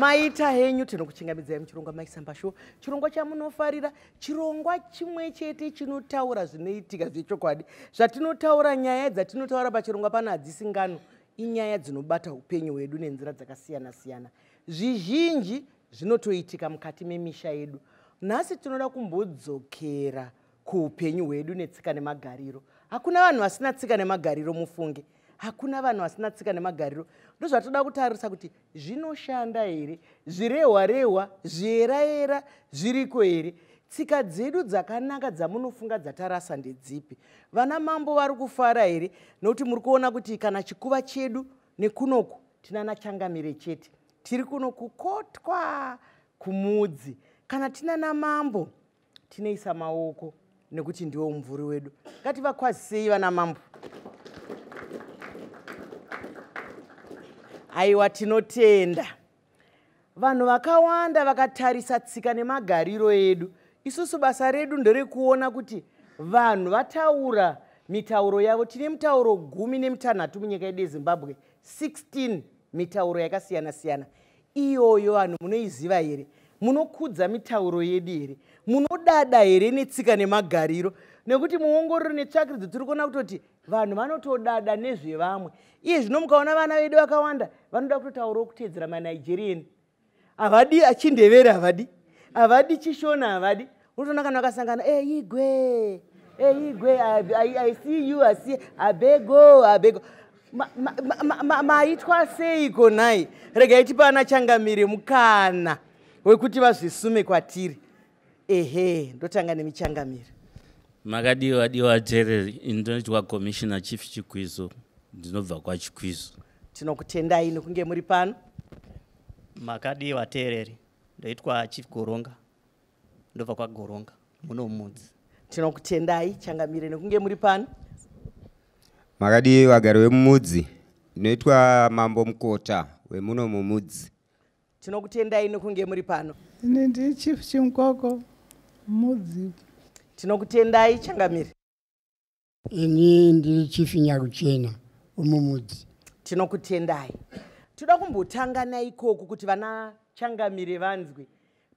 maita henyu tinokuchingamidzai muchirongwa maisamba shuwa chirongwa chamunofarira chirongwa chimwe chete chinotaura zvinoitika zvechokwadi zvatinotaura nyaya dzatinotaura pachirongwa pano hadzisi ngano inyaya dzinobata upenyu hwedu nenzira dzakasiyana siyana zvizhinji zvinotoitika mukati memisha yedu nhasi tinoda kumbodzokera kuupenyu hwedu netsika nemagariro hakuna vanhu vasina tsika nemagariro mufunge hakuna vanhu vasina tsika nemagariro ndozvatoda kutarisa kuti zvinoshanda here zvirehwa rehwa zviyerayera zviriko here tsika dzedu dzakanaka dzamunofunga dzatarasa ndedzipi vana mambo vari kufara here nokuti muri kuona kuti kana chikuva chedu nekunoku tinana changamire chete tiri kuno kukotwa kumudzi kana tinana mambo tinoisa maoko nekuti ndiwo mumvuri wedu ngativakwazisei vana mambo aiwa tinotenda vanhu vakawanda vakatarisa tsika nemagariro edu isusu basa redu nderekuona kuti vanhu vataura mitauro yavo tine mitauro gumi nemitanhatu munyika yedu yezimbabwe 16 mitauro yakasiyana siyana iyoyo vanhu munoiziva here munokudza mitauro yedu here munodada here netsika nemagariro nekuti muongororo netsvakiridzo tiri kuona kutoti vanhu vanotodada nezvevamwe iye zvino mukaona vana vedu vakawanda vanoda kutotaurawo kuteedzera manigerian havadi chindevere havadi havadi chishona havadi unotoona kana vakasangana e eh, igwe e eh, igwe i see you i see abego abego maitwa seiko nhai regai tipa ana changamire mukana wekuti vazvisume kwatiri ehe ndotanga nemichangamiro makadiwa adiwa jereri ndinoitwa commissioner chief chikwizo ndinobva kwachikwizo tinokutendai nokunge muri pano makadiwa tereri ndoitwa chief goronga ndobva kwagoronga munomudzi tinokutendai changamire nekunge muri pano makadii vagari vemumudzi ndinoitwa mambo mukota wemuno mumudzi tinokutendai nekunge muri pano ini ndi chief chimkoko mudzi tinokutendai changamire ini ndiri chief nyaruchena umumudzi tinokutendai toda kumbotanga naikoku kuti vana changamire vanzwe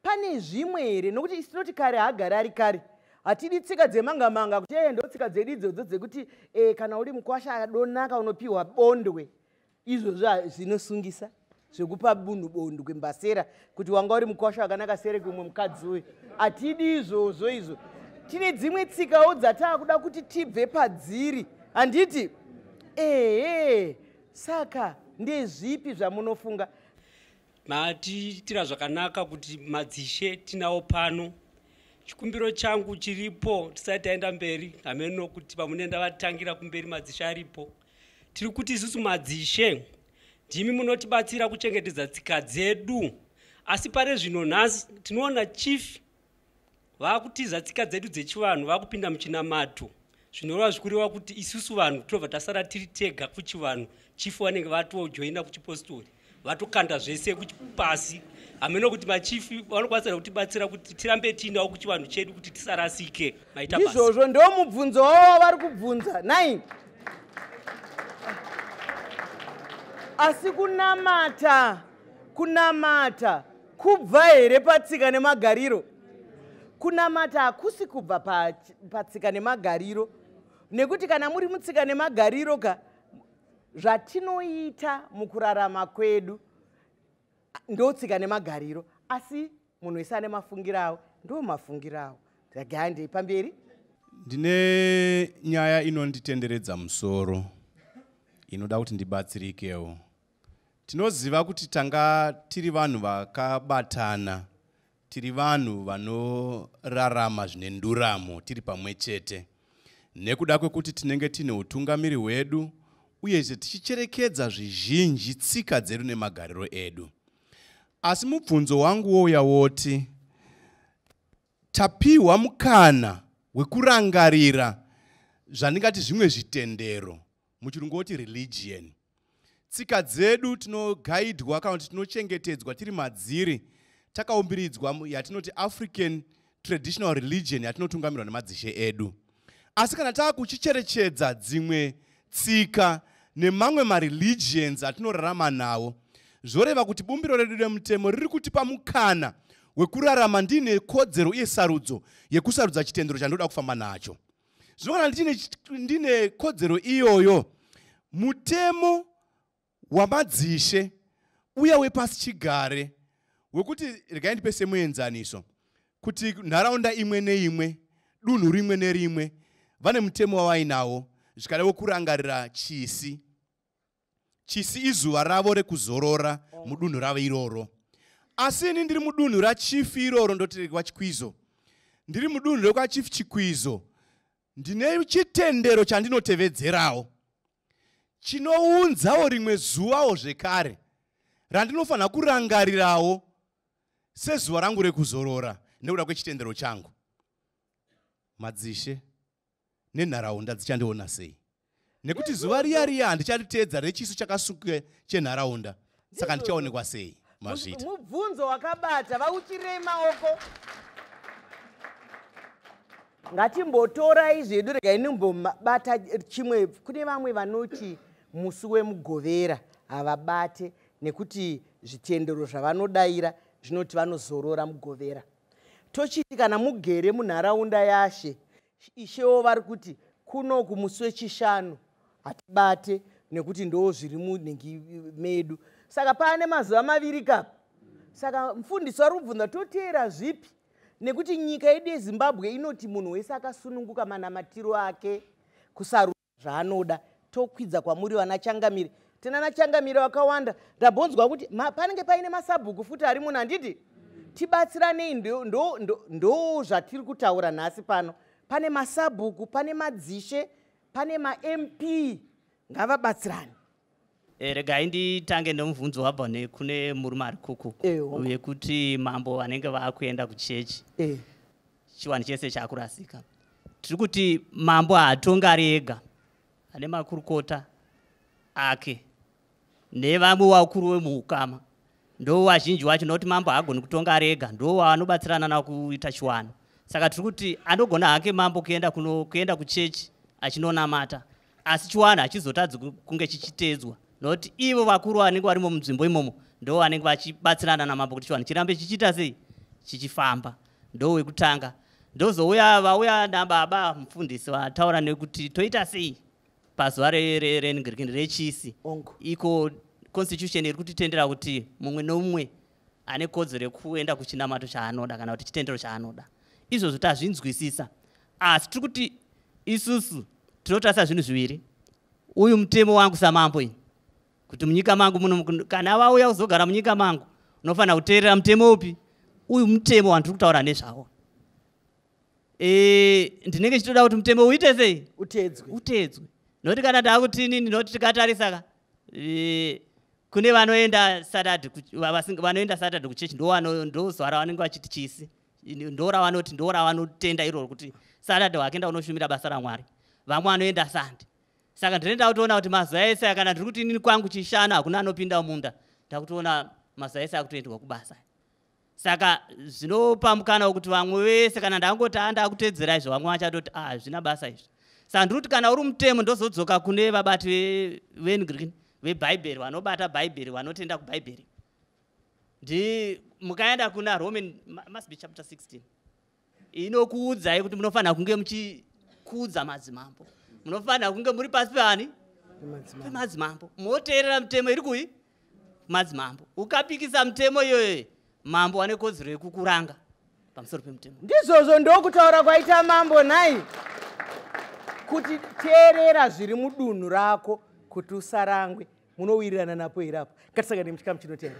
pane zvimwe here nokuti isi tinoti kare haagari ari kare hatidi tsika dzemanga manga kuti ee ndotsika dzedu idzodzo dzekuti e, kana uri mukwasha adonaka unopiwa bondwe izvozvo zvinosungisa zvekupa bunhu bondo kwembasera kuti wanga uri mukwasha wakanaka sere kumwe mukadzi uyu hatidi izvozvo izvo tine dzimwe tsikawo dzataakuda kuti tibve padziri handiti ehe saka ndezvipi zvamunofunga matiitira zvakanaka kuti madzishe tinawo pano chikumbiro changu chiripo tisati taenda mberi hameno kuti pamunenda vatangira kumberi madzishe aripo tiri kuti isusu madzishe ndimi munotibatsira kuchengetedza tsika dzedu asi pari zvino nhasi tinoona chief vakutiza tsika dzedu dzechivanhu vakupinda muchinamato zvinoreva zvikureva kuti isusu vanhu tinobva tasara tiri tega kuchivanhu chief vanenge vatojoina kuchipostori vatokanda zvese pasi hameno kuti machifi vanokwanisa kutibatsira kuti tirambe tiinawo kuchivanhu chedu kuti tisarasike maitaizvozvo ndo mubvunzo wavo wavari kubvunza nai asi kunamata kunamata kubva here patsika nemagariro kunamata hakusi kubva patsika nemagariro nekuti kana muri mutsika nemagariro ka zvatinoita mukurarama kwedu ndotsika nemagariro asi munhu wese ane mafungiro awo ndo mafungiro awo ndagandei pamberi ndine nyaya inonditenderedza musoro inoda kuti ndibatsirikewo tinoziva kuti tanga tiri vanhu vakabatana tiri vanhu vanorarama zvine nduramo tiri pamwe chete nekuda kwekuti tinenge tine utungamiri hwedu uyezve tichicherekedza zvizhinji tsika dzedu nemagariro edu asi mubvunzo wangu wouya woti tapiwa mukana wekurangarira zvandingati zvimwe zvitendero muchirungu woti religion tsika dzedu tinogaidwa kana kuti tinochengetedzwa tiri madziri takaumbiridzwa yatinoti african traditional religion yatinotungamirwa nemadzishe edu asi kana taa kuchicherechedza dzimwe tsika nemamwe mareligions atinorarama nawo zvoreva kuti bumbiro redu remutemo riri kutipa mukana wekurarama ndiine kodzero uye sarudzo yekusarudza chitendero chandoda kufamba nacho zvinogona ndine, ndine kodzero iyoyo mutemo wamadzishe uya wepasi chigare wekuti regai ndipe semuenzaniso kuti nharaunda imwe neimwe dunhu rimwe nerimwe vane mutemo wavainawo zvikadavo kurangarira chisi chisi izuva ravo rekuzorora oh. mudunhu ravo iroro asi ini ndiri mudunhu rachief iroro ndoti kwachikwizo ndiri mudunhu rekwachief chikwizo ndine chitendero chandinotevedzerawo chinounzawo rimwe zuvawo zvekare randinofanira kurangarirawo sezuva rangu rekuzorora nekuda kwechitendero changu madzishe nenharaunda dzichandiona sei nekuti zuva riya riya handichariteedza rechiso chakasuke chenharaunda saka ndichaonekwa sei mazvita mubvunzo wakabata vauchirei maoko ngatimbotorai zvedu regai nimbobata chimwe kune vamwe vanoti musi wemugovera havabate nekuti zvitendero zvavanodaira zvinoti vanozorora mugovera tochiti kana mugere munharaunda yashe ishewo vari kuti kuno kumusi wechishanu hatibate nekuti ndoo zviri munhingi medu saka paane mazuva maviri kapa saka mfundisi wari kubvunza toteera zvipi nekuti nyika yedu yezimbabwe inoti munhu wese akasununguka manamatiro ake kusarudzo zvaanoda tokwidza kwamuri vana changamire tena nachangamire vakawanda ndambonzwa kuti panenge paine masabhuku futi ari muno handiti tibatsiranei ndo zvatiri kutaura nhasi pano pane masabhuku pane madzishe pane mamp ngavabatsirane Eh, regai nditange nemubvunzo wabva nekune murume ari kuku wekuti mambo vanenge vakuenda kuchechi eh. chiwani chese chakurasika tiri kuti mambo haatonga ari ega ane makurukota ake nevamwe wakuru wemuukama ndo wazhinji wacho nokuti mambo haagoni kutonga ari ega ndo waanobatsirana na kuita chiwano saka tiri kuti anogona hake mambo kuenda kuno kuenda kuchechi achinonamata asi chiwana hachizotadzi kunge chichiteedzwa not ivo vakuru vanenge varimo munzvimbo imomo ndo vanenge vachibatsirana namambo kuti chiwanhu chirambe chichiita sei chichifamba ndo wekutanga ndozouya vauya nababa mufundisi vataura nekuti toita sei pazuva rengrikini rechisi iko constitution iri kutitendera kuti mumwe nomumwe ane kodzero yekuenda kuchinamato chaanoda kana kuti chitendero chaanoda izvozvo tazvinzwisisa asi tiri kuti isusu tinotarisa zvinhu zviviri uyu mutemo wangu samambo iyi kuti munyika mangu muno kana vauya kuzogara munyika mangu unofanira kuteerera mutemo upi uyu mutemo wandiri kutaura nezvawo e, ndinenge ndichitoda kuti mutemo uite sei utedzwe utedzwe nokuti kana taakutinini nokuti tikatarisaka e, kune vanoenda satade vanoenda satade kuchechi ndovanozoara vanenge vachiti chisi ndoravanoti ndoravanotenda iroro kuti saturday wake enda unoshumira basa ramwari vamwe vanoenda sande saka ndinoenda kutoona kuti mazuva ese aya kana ndiri kuti inini kwangu chishanu hakuna anopinda munda ndakutoona mazuva ese akutoendwa kubasa saka zvinopa mukana wekuti vamwe vese kana ndangoti a ah, ndakutedzera izvo vamwe vachatoti a ah, hazvina basa izvi saka ndiri kuti kana uri mutemo ndozodzoka kune vabati vengreen vebhaibheri vanobata bhaibheri vanotenda kubhaibheri ndi mukaenda kuna roman must be chapter 16 inokuudzai kuti munofanira kunge muchikuudza madzimambo munofanira kunge muri pasi peani pemadzimambo moteerera mitemo iri kuyi madzimambo ukapikisa mitemo iyoyo mambo wane kodzero yekukuranga pamusoro pemutemo ndizvozvo ndokutaura kwaita mambo nhai kuti teerera zviri mudunhu rako kuti usarangwe munowirirana napo here apo ngatisangane muchikamu chinotenda